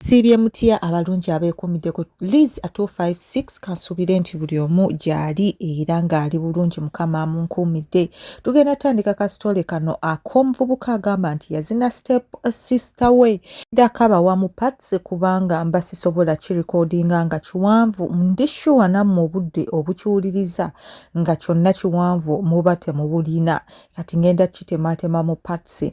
siibye mutya abalungi abeekuumiddeko liz 256 kansuubire nti buli omu gyali era ng'ali bulungi mukama amunkuumidde tugenda tandika kasitole kano ak'omuvubuka agamba nti yazina step sister we ndakabawa mu pats kubanga mba sisobola kirikodinga nga kiwanvu ndi shuwa nammwe obudde obukiwuliriza nga kyonna kiwanvu muba temubulina kati ngenda kitemaatema mu pats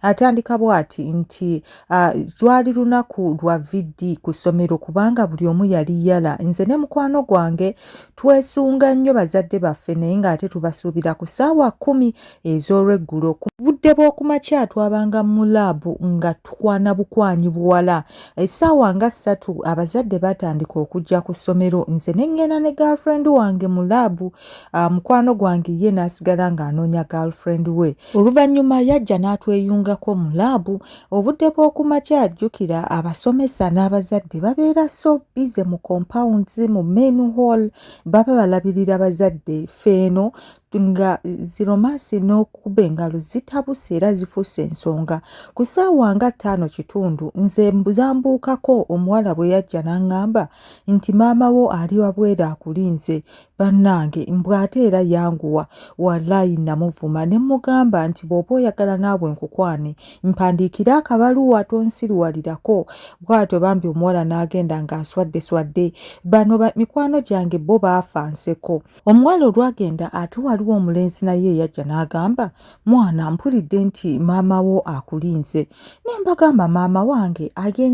Atandika bw'ati nti ah, lwali lunaku lwa VD ku ssomero kubanga buli omu yali yala. Nze ne mukwano gwange twesunga nnyo bazadde baffe naye ng'ate tubasuubira ku ssaawa kkumi ez'olweggulo. Ku budde bw'oku makya twabanga mu laabu nga tukwana bukwanyi buwala. Essaawa nga ssatu abazadde baatandika okujja ku ssomero nze ne ŋŋenda ne girlfriend wange mu laabu, ah, mukwano gwange ye n'asigala ng'anoonya girlfriend we. Oluvannyuma yajja n'atweyungako mu laabu obudde bw'oku makya. Jjukira abasomesa n'abazadde babeera so bize mu compounds mu main hall, baba balabirira bazadde. Ffe eno nga ziromansi n'okukuba engalo zitabuse era zifuuse ensonga. Ku ssaawa nga ttaano kitundu nze zambuukako omuwala bwe yajja n'aŋŋamba nti maama wo ali wabweru akulinze. bannange mbw ate era yanguwa walaayi namuvuma ne mmugamba nti bw'oba oyagala naabwe nkukwane mpandiikire akabaluwa tonsiruwalirako bw'atyo bambi omuwala n'agenda ng'aswadde swadde bano mikwano gyange bo baafa nseko omuwala olwagenda ate waliwo omulenzi naye eyajja n'agamba mwana mpulidde nti maama wo akulinze ne mbagamba maama wange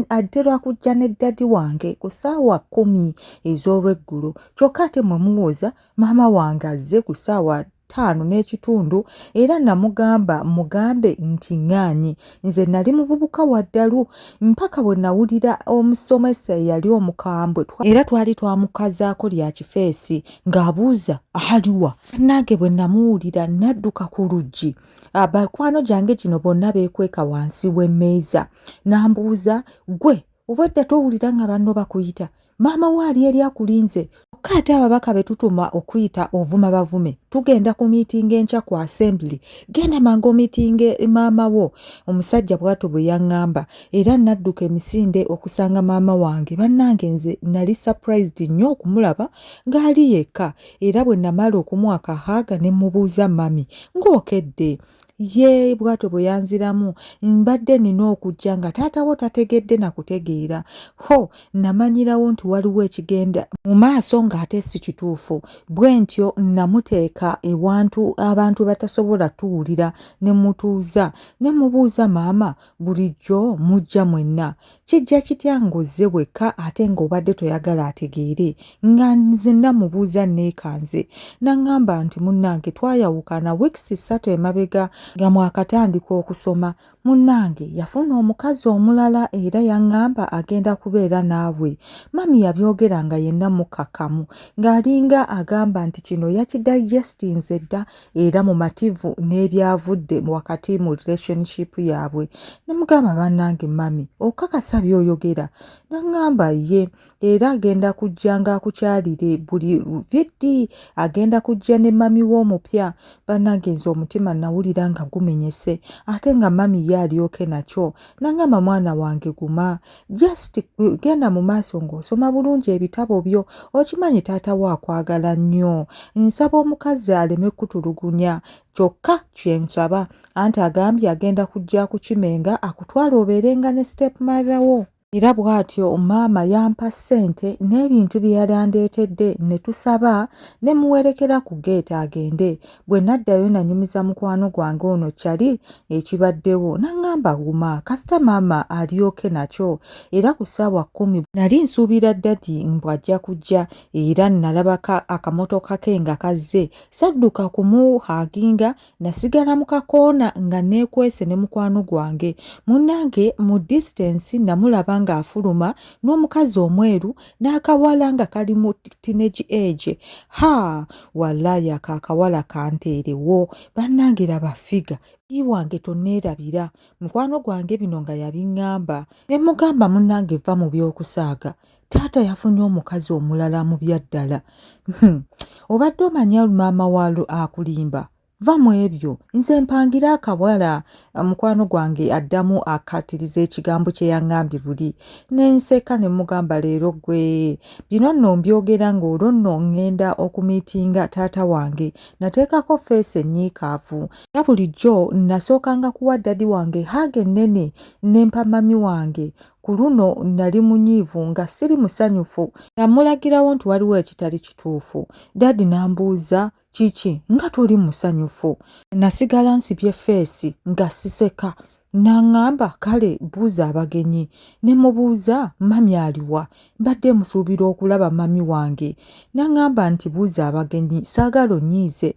adde lwakujja ne ddadi wange ku ssaawa kkumi ez'olweggulo kyokka ate mwe muwooza maama wange azze ku ssaawa ttaano n'ekitundu era namugamba mugambe nti ŋŋaanyi nze nali muvubuka wa ddalu mpaka bwe nawulira omusomesa eyali omukambwe era twali twamukazaako lya kifeesi ng'abuuza aliwa nange bwe namuwulira nadduka ku luggi abakwano gyange gino bonna beekweka wansi w'emmeeza n'ambuuza gwe obwedda towulira nga banno bakuyita maama wo ali eri akulinze kyokka ate ababaka be tutuma okuyita ovuma bavume tugenda ku miitingi enkya ku assembly genda mangu omiitinge maama wo omusajja bw'ato bwe yaŋŋamba era nadduka emisinde okusanga maama wange bannange nze nali surprised nnyo okumulaba ng'ali yekka era bwe namala okumuwa kahaaga ne mmubuuza mami ng'okedde ye bwatyo bwe yanziramu mbadde nina okujja nga taata wo tategedde na kutegeera ho namanyirawo nti waliwo ekigenda mu maaso ng'ate si kituufu bwe ntyo namuteeka ewantu abantu batasobola tuwulira ne mutuuza ne mubuuza maama bulijjo mujja mwenna kijja kitya ng'ozze wekka ate ng'obadde toyagala ategeere nga nze namubuuza neekanze naŋŋamba nti munnange twayawukana wiikisi ssatu emabega nga mwakatandika okusoma munnange yafuna omukazi omulala era yaŋŋamba agenda kubeera naawe mami yabyogera nga yenna mukkakkamu ng'alinga agamba nti kino yakidayijestinze dda era mumativu n'ebyavudde wakati mu relationship yaabwe nemugamba bannange mami okakasa byoyogera nangamba ye era agenda kujja nga akukyalire buli vidi agenda kujja ne mami we omupya bannange nze omutima nawulira nga gumenyese ate nga mami ye alyoke nakyo nangamba mwana wange guma just genda mu maaso ng'osoma bulungi ebitabo byo okimanyi taata wo akwagala nnyo nsaba omukazi aleme kutulugunya kyokka kyensaba anti agambye agenda kujja kukimenga akutwala obeerenga ne step mother wo era bw'atyo maama yampa ssente n'ebintu bye yali andeetedde ne tusaba ne muwerekera ku geeti agende bwe naddayo nanyumiza mukwano gwange ono kyali ekibaddewo n'aŋŋamba wuma kasita maama alyoke nakyo era ku ssaawa kkumi nali nsuubira ddadi mbw'ajja kujja era nnalabaka akamotoka ke nga kazze sadduka kumuhaaginga nasigala mu kakoona nga neekwese ne mukwano gwange munnange mu disitensi namulaba ng'afuluma n'omukazi omweru n'akawala nga kali mu teenage age ha wallayi ako akawala kanteerewo bannange laba figa i wange tonneerabira mukwano gwange bino nga yabiŋŋamba ne mugamba munnange va mu by'okusaaga taata yafunye omukazi omulala mu byaddala hmm. obadde omanya maama waalo akulimba va mu ebyo nze mpangira akawala mukwano gwange addamu akkaatiriza ekigambo kye yaŋŋambye buli ne nseka ne mugamba leero gwe bino nno mbyogera ng'olwo nno ŋŋenda okumiitinga taata wange nateekako feesi ennyiikaavu era bulijjo nasookanga kuwa ddadi wange haaga ennene ne mpa mami wange ku luno nali munyiivu nga siri musanyufu namulagirawo nti waliwo ekitali kituufu dadi n'ambuuza kiki nga toli musanyufu nasigala nsibye feesi nga siseka naŋŋamba kale buuza abagenyi ne mubuuza mami aliwa mbadde musuubira okulaba mami wange naŋŋamba nti buuza abagenyi saagala onnyiize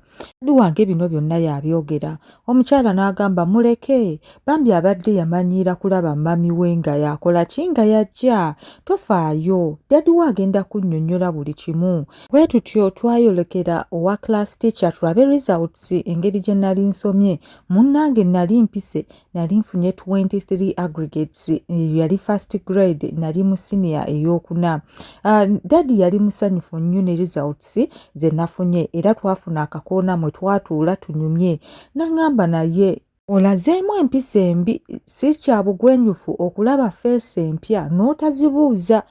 ali wange bino byonna yabyogera omukyala n'agamba muleke bambi abadde yamanyiira kulaba mami we nga yakola ki nga yajja tofaayo dadi we agenda kunnyonnyola buli kimu bwe tutyo twayolekera owa class teacher tulabe results engeri gye nali nsomye munnange nali mpise nali nfunye 23 aggregates eyo yali first grade nali mu siniya ey'okuna Ah, dadi yali musanyufu nnyo ne results ze nafunye era twafuna akakoona mwe twatuula tunyumye nangamba naye olazeemu empisa embi si kya bugwenyufu okulaba feesi empya n'otazibuuza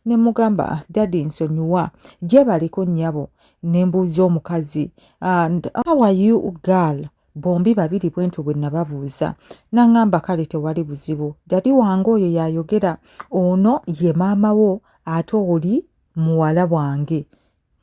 ne mugamba ah, dadi nsonyiwa gyebaliko nnyabo ne mbuuza omukazi and how are you girl bombi babiri bwentyo bwe nababuuza nangamba kale tewali buzibu dadi wange oyo yayogera ono ye maama wo ate oli muwala wange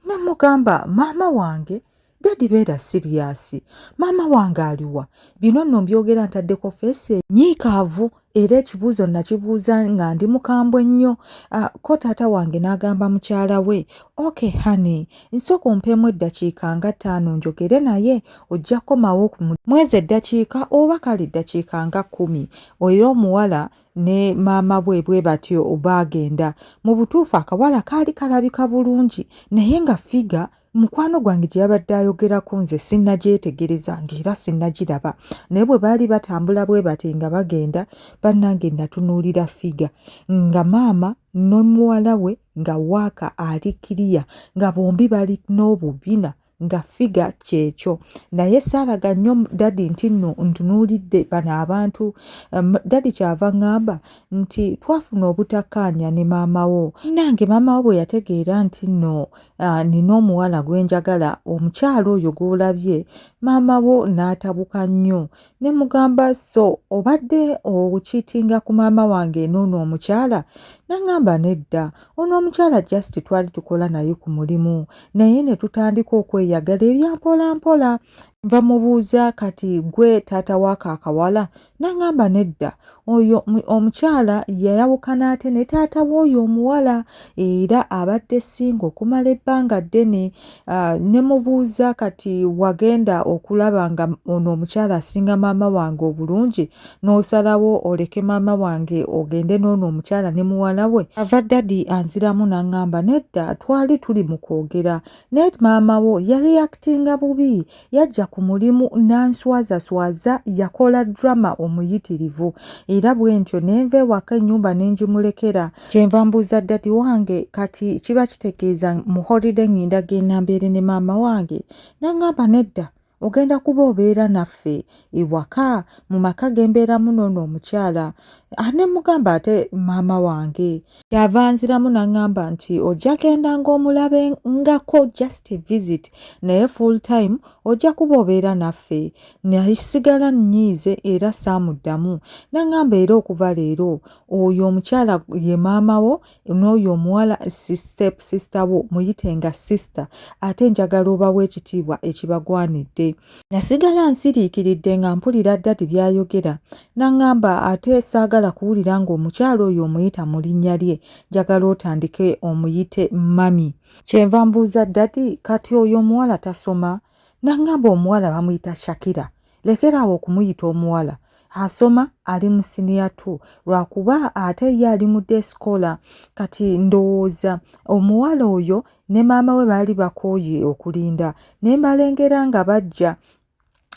nemugamba maama wange dadi beera siriyasi maama wange aliwa bino nno mbyogera ntaddeko feesi enyiikaavu era ekibuuzo nakibuuza nga ndi mukambwe nnyo ah, ko taata wange n'agamba mukyala we ok honey nsooka ompeemu eddakiika nga ttaano njogere naye ojja kukomawo ku mwezi eddakiika oba kale eddakiika nga kkumi era omuwala ne maama bwe bwe batyo baagenda mu butuufu akawala kaali kalabika bulungi naye nga figa mukwano gwange gye yabadde ayogerako nze sinnagyetegereza ng'era sinnagiraba naye bwe baali batambula bwe bati nga bagenda bannange natunuulira figa nga maama n'omuwala we nga waaka ali kiriya nga bombi bali n'obubina nga figa kyekyo naye saalaga nnyo dadi nti no ntunuulidde bano abantu um, dadi kyava ŋŋamba nti twafuna obutakkaanya ne maama wo nange maama wo bwe yategeera nti no Ah, nina omuwala gwe njagala omukyala oyo gw'olabye maama wo n'atabuka nnyo ne mugamba so obadde okiitinga ku maama wange n'ono omukyala nangamba nedda ono omukyala just twali tukola naye ku mulimu naye ne tutandika okweyagala ebyampolampola nva mubuuza kati gwe taata waako akawala Nangamba nedda oyo omukyala yayawukana ate ne taata w'oyo omuwala era abadde singa okumala ebbanga ddene ah, ne mubuuza kati wagenda okulaba nga ono omukyala asinga maama wange obulungi n'osalawo oleke maama wange ogende n'ono omukyala ne muwala we ava dadi anziramu nangamba nedda twali tuli mu kwogera naye maama wo yareactinga bubi yajja ku mulimu n'answazaswaza yakola drama omuyitirivu era bwe ntyo ne nva ewaka ennyumba ne ngimulekera kyenva mbuuza ddadi wange kati kiba kitegeeza mu holiday ng'enda genda mbeere ne maama wange n'aŋŋamba nedda ogenda kuba obeera naffe ewaka mu maka ge mbeeramu n'ono omukyala ah, ne mugamba ate maama wange kyava nziramu nangamba nti ojja genda ng'omulabe ngako just visit naye full time ojja kuba obeera naffe nasigala nnyiize era saamuddamu nangamba era okuva leero oyo omukyala ye maama wo n'oyo omuwala step sister wo muyite nga sister ate njagala obawo ekitiibwa ekibagwanidde nasigala nsiriikiridde nga mpulira ddadi byayogera N'aŋŋamba ate saagala kuwulira ng'omukyala oyo omuyita mu linnya lye, njagala otandike omuyite Mummy. Kye nva mbuuza Dadi, kati oyo omuwala tasoma? N'aŋŋamba omuwala bamuyita Shakira, lekera awo okumuyita omuwala. Asoma ali mu siniya tu lwakuba ate ye ali mu day scholar. Kati ndowooza omuwala oyo ne maama we baali bakooye okulinda ne mbalengera nga bajja.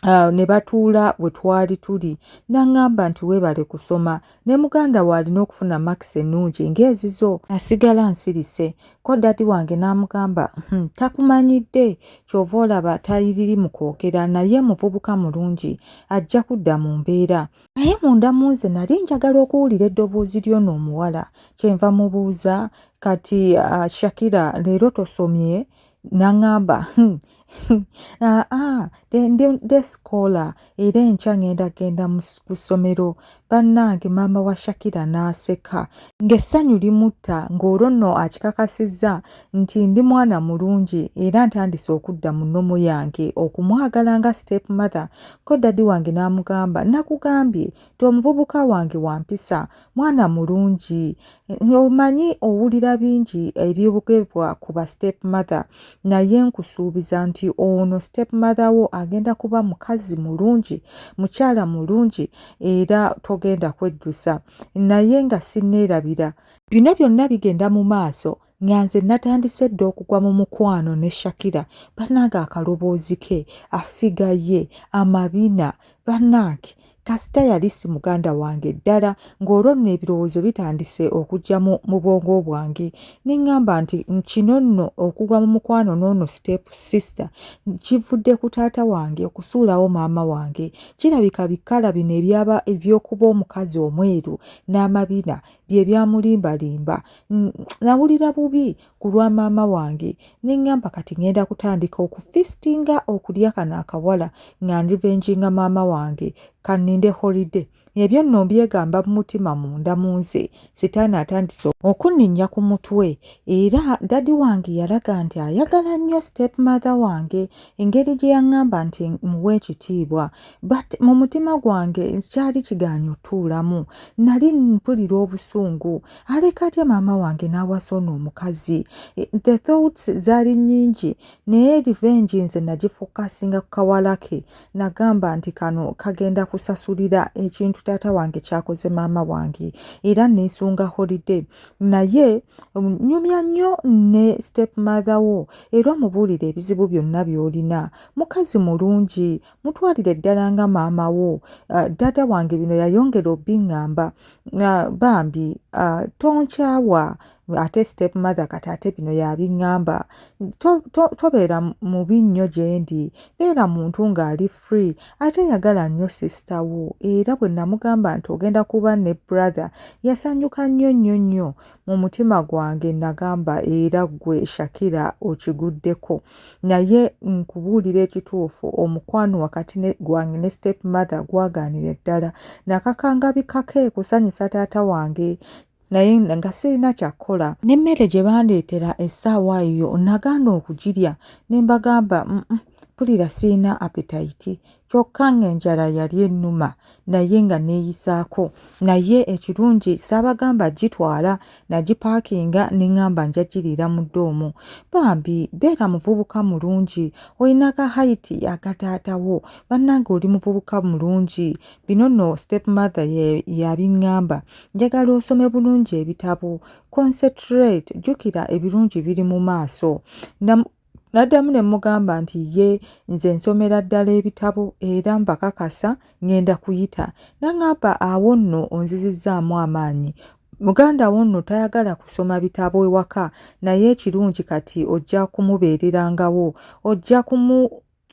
Uh, ne batuula we twali tuli n'aŋŋamba nti weebale kusoma ne muganda we alina okufuna makisi ennungi ng'ezizo asigala nsirise ko dadi wange n'amugamba hmm, takumanyidde ky'ova olaba tayiriri mu kwogera naye muvubuka mulungi ajja kudda mu mbeera naye munda mu nze nali njagala okuwulira eddoboozi ly'ono omuwala kyenva mubuuza kati uh, shakira leero tosomye nangamba hmm, hmm, ah, ah, nde sikola era enkya ngenda genda ku ssomero bannange maama wa shakira n'aseka ng'essanyu limutta ng'olwo nno akikakasizza nti ndi mwana mulungi era ntandise okudda mu nnomu yange okumwagala nga step mother ko dadi wange n'amugamba nakugambye ti omuvubuka wange wampisa mwana mulungi Omanyi owulira bingi ebyogerwa ku ba step mother naye nkusuubiza nti ono step mother wo agenda kuba mukazi mulungi mukyala mulungi era togenda kwejjusa naye nga sinneerabira bino byonna bigenda mu maaso nga nze natandise dda okugwa mu mukwano ne shakira banange akaloboozi ke afiga ye amabina banange kasita yali si muganda wange ddala ng'olwo nno ebirowoozo bitandise okujja mu bwongo bwange ne ŋŋamba nti kino nno okugwa mu mukwano n'ono step sister kivudde ku taata wange okusuulawo maama wange kirabika bikala bino ebyaba ebyokuba omukazi omweru n'amabina bye byamulimbalimba nawulira bubi ku lwa maama wange ne ŋŋamba kati ŋŋenda kutandika okufistinga okulya kano akawala nga nrivenjinga maama wange kanninde holiday ebyo nno mbyegamba mu mutima munda mu nze sitaani atandise okunninnya ku mutwe era dadi wange yalaga nti ayagala nnyo step mother wange engeri gye yaŋŋamba nti muwa ekitiibwa but mu mutima gwange kyali kigaanyi otuulamu nali mpulira obusungu aleka atya maama wange n'awasa ono omukazi e, the thoughts zaali nnyingi naye revenge nze nagifokasinga ku kawala ke nagamba nti kano kagenda kusasulira ekintu taata wange kyakoze maama wange era neesunga holiday naye um, nyumya nnyo ne step mother wo era omubuulire ebizibu byonna by'olina mukazi mulungi mutwalire ddala nga maama wo ah, ddaada wange bino yayongera obiŋŋamba ah, bambi ah, tonkyawa ate step mother kati ate bino yabiŋŋamba tobeera mubi nnyo gye ndi beera muntu ng'ali free ate yagala nnyo sisita wo era bwe namugamba nti ogenda kuba ne brother yasanyuka nnyo nnyo nnyo mu mutima gwange nagamba era ggwe shakira okiguddeko naye nkubuulira ekituufu omukwano wakati gwange ne step mother gwagaanira ddala nakakangabikako ekusanyusa taata wange naye nga sirina kyakukola n'emmere gye bandeetera essaawa eyo nagaana okugirya ne mbagamba mpulira sirina apetayiti kyokka ng'enjala yali ennuma naye nga neeyisaako naye ekirungi saabagamba gitwala nagipaakinga ne ŋŋamba nja giriira mu ddoomu bambi beera muvubuka mulungi olina ka hayiti akataatawo bannange oli muvubuka mulungi bino nno step mother yabiŋŋamba njagala osome bulungi ebitabo concentrate jjukira ebirungi biri mu maaso Naddamu ne mmugamba nti ye nze nsomera ddala ebitabo era mbakakasa ngenda kuyita. N'aŋamba awo nno onzizizzaamu amaanyi. Muganda wo nno tayagala kusoma bitabo ewaka naye ekirungi kati ojja kumubeererangawo, ojja kumu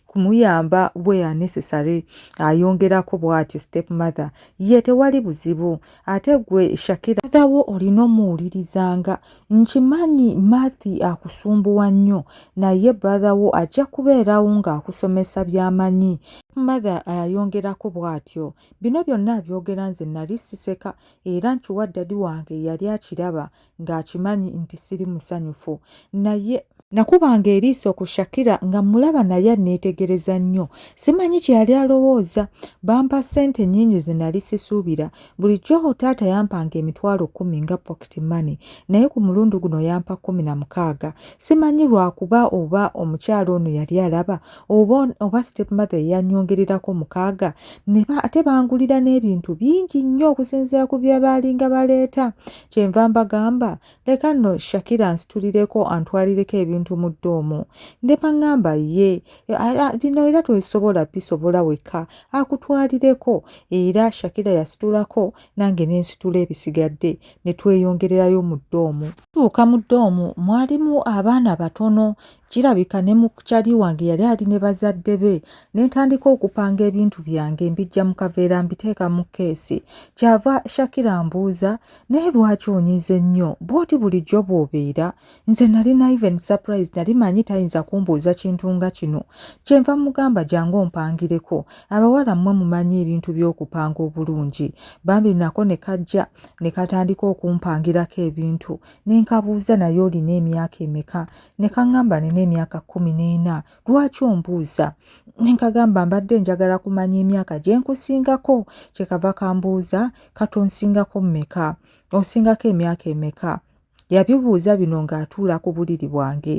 kumuyamba where necessary ayongerako bwatyo step mother ye tewali buzibu ate gwe shakira athawo olina omuwulirizanga nkimanyi mathi akusumbuwa nnyo naye brother wo ajja kubeerawo ng'akusomesa byamanyi mother ayongerako bwatyo bino byonna abyogera nze nali siseka era nkiwa ddadi wange yali akiraba ng'akimanyi nti siri musanyufu naye nakubanga eriiso ku shakira nga mulaba naye anneetegereza nnyo simanyi kye yali alowooza bampa ssente nnyingi ze nali sisuubira bulijjo taata yampanga emitwalo kkumi nga pocket money naye ku mulundi guno yampa kkumi na mukaaga simanyi lwakuba oba omukyalo ono yali alaba oba oba step mother eyanyongererako mukaaga ate bangulira n'ebintu bingi nnyo okusinziira ku bye baalinga baleeta kyenva mbagamba leka nno shakira nsitulireko antwalireko ebintu mu ddoomu ndema ngamba ye bino era tosobola bisobola wekka akutwalireko era shakira yasitulako nange nensitula ebisigadde ne tweyongererayo mu ddoomu tuuka mu ddoomu mwalimu abaana batono kirabika ne mukyali wange yali ali ne bazadde be ne ntandika okupanga ebintu byange mbijja mu kaveera mbiteeka mu keesi kyava shakira mbuuza naye lwaki onyize nnyo bwoti bulijjo bw'obeera nze nali na even surprise nali manyi tayinza kumbuuza kintu nga kino kyenva mugamba jangu ompangireko abawala mmwe mumanyi ebintu by'okupanga obulungi bambi nako ne kajja ne katandika okumpangirako ebintu ne nkabuuza naye olina emyaka emeka ne kaŋŋamba nina emyaka kkumi n'ena lwaki ombuuza ne nkagamba mbadde njagala kumanya emyaka gye nkusingako kye kava kambuuza kati onsingako mmeka onsingako emyaka emeka yabibuuza bino ng'atuula ku buliri bwange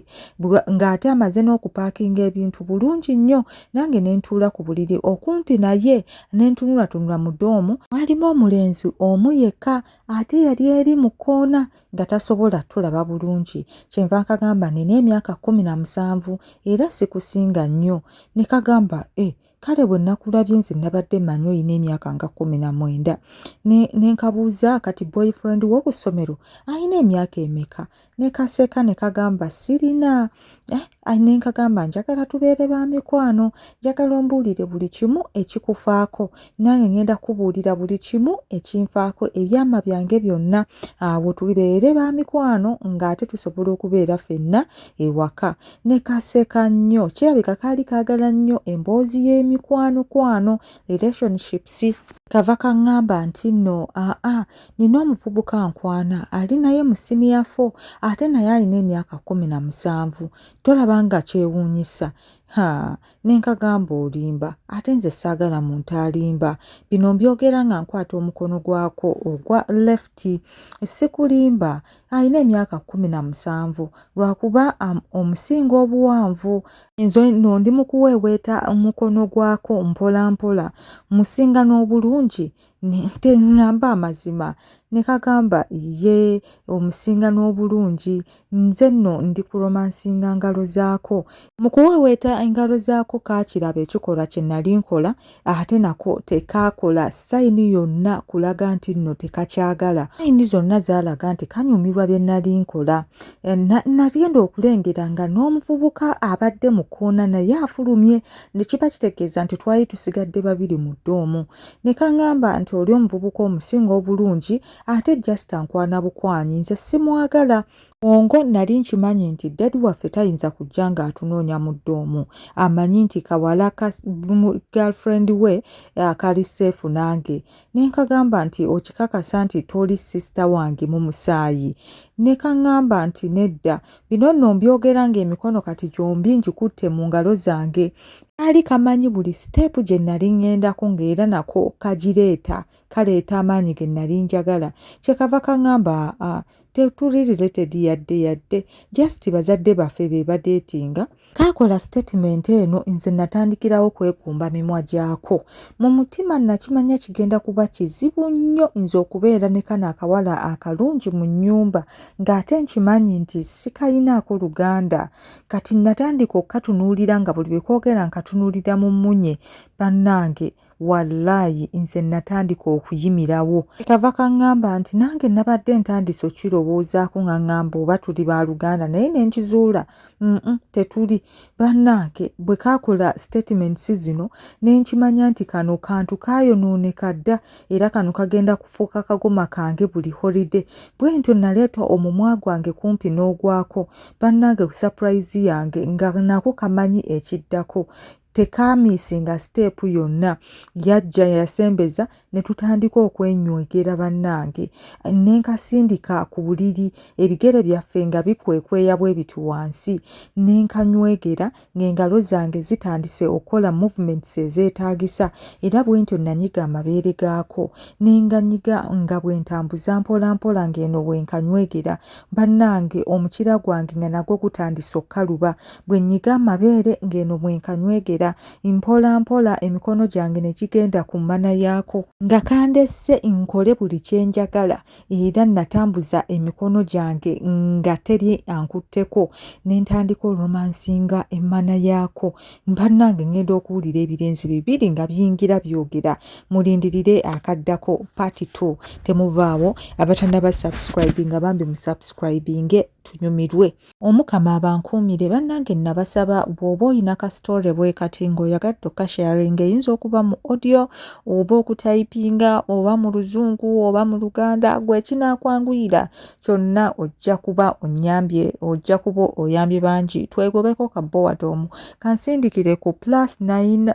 ng'ate amaze n'okupaakinga ebintu bulungi nnyo nange ne ntuula ku buliri okumpi naye ne ntunulatunula mu doomu mwalimu omulenzi omu yekka ate yali eri mu kkoona nga tasobola tulaba bulungi kyenva nkagamba nina emyaka kkumi na musanvu era sikusinga nnyo ne kagamba e eh, kale bwe nakulabye nze nabadde manyi olina emyaka nga kumi na mwenda ne nkabuuza kati boyfriend wo ku ssomero alina emyaka emeka ne kaseka ne kagamba sirina eh, ne nkagamba njagala tubeere ba mikwano njagala ombuulire buli kimu ekikufaako nange ngenda kubuulira buli kimu ekinfaako ebyama byange byonna awo tubeere ba mikwano ng'ate tusobola okubeera fenna ewaka ne kaseka nnyo kirabika kaali kaagala nnyo emboozi y'emikwanokwano relationships kava kaŋŋamba nti nno aa nina omuvubuka nkwana ali naye mu siniya fo ate naye alina emyaka kumi na musanvu tolaba nga kyewuunyisa ha ne nkagamba olimba ate nze saagala muntu alimba bino mbyogera nga nkwata omukono gwako ogwa lefti sikulimba alina emyaka kumi na musanvu lwakuba omusinga obuwanvu nze no ndi mukuweeweeta omukono gwako mpola mpola musinga n'obulungi teŋŋamba amazima ne kagamba ye omusinga n'obulungi nze nno ndi ku romansinga ngalo zaako mu kuweeweeta engalo zaako kaakiraba ekikolwa kye nali nkola ate nako tekaakola sayini yonna kulaga nti nno tekakyagala sayini zonna zaalaga nti kanyumirwa bye nali nkola eh, nagenda okulengera nga n'omuvubuka abadde mu kkoona naye afulumye ne kiba kitegeeza nti twali tusigadde babiri mu ddoomu ne kaŋŋamba nti oli omuvubuka omusinga obulungi ate just ankwana bukwanyi nze simwagala ongo nali nkimanyi nti dadi waffe tayinza kujja ng'atunoonya mudde omu amanyi nti kawala ka girlfriend we akali eh, seefu nange ne nkagamba nti okikakasa nti toli sisita wange mu musaayi ne kaŋŋamba nti nedda bino nno mbyogera ng'emikono kati gyombi ngikutte mu ngalo zange kaali kamanyi buli siteepu gye nnali ŋŋendako ng'era nako kagireeta kaleeta amaanyi ge nnali njagala kye kava kaŋŋamba aa tetuli related yadde yadde just bazadde baffe be badeetinga kaakola sitatimenti eno nze natandikirawo kwekumba mimwa gyako mu mutima nakimanya kigenda kuba kizibu nnyo nze okubeera ne kano akawala akalungi mu nnyumba ng'ate nkimanyi nti sikayinaako luganda kati natandika okukatunuulira nga buli lwe kwogera nkatunuulira mu mmunye bannange wallaayi nze natandika okuyimirawo kava kaŋŋamba nti nange nabadde ntandise okukirowoozaako nga ŋŋamba oba tuli ba luganda naye ne nkizuula mm tetuli bannange bwe kaakola sitatiments zino ne nkimanya nti kano kantu kaayonooneka dda era kano kagenda kufuuka kagoma kange buli holide bwe ntyo naleeta omumwa gwange kumpi n'ogwako bannange ku sapurayizi yange nga nako kamanyi ekiddako tekaamiisinga siteepu yonna yajja yasembeza ne tutandika okwenywegera bannange ne nkasindika ku buliri ebigere byaffe nga bikwekweya bwe biti wansi ne nkanywegera ng'engalo zange zitandise okukola movements ezeetaagisa era bwe ntyo nanyiga amabeere gaako ne nganyiga nga bwe ntambuza mpolampola ng'eno bwe nkanywegera bannange omukira gwange nga nagwo gutandise okukaluba bwe nyiga amabeere ng'eno bwe nkanywegera mpolampola emikono gyange ne gigenda ku mmana yaako nga kandesse nkole buli kye njagala era natambuza emikono gyange nga teri ankutteko ne ntandika oromansinga emmana yaako mbannange ngenda okuwulira ebirenzi bibiri nga biyingira byogera mulindirire akaddako party t temuvaawo abatanaba subscribinga bambi musubscribinge tunyumirwe Omukama abankuumire bannange nabasaba bw'oba olina ka story bwe kati ng'oyagadde okasharing eyinza okuba mu audio oba okutayipinga oba mu luzungu oba mu luganda gwe kinaakwanguyira kyonna ojja kuba onnyambye ojja kuba oyambye bangi twegobeko ka bowadoomu kansindikire ku plus 9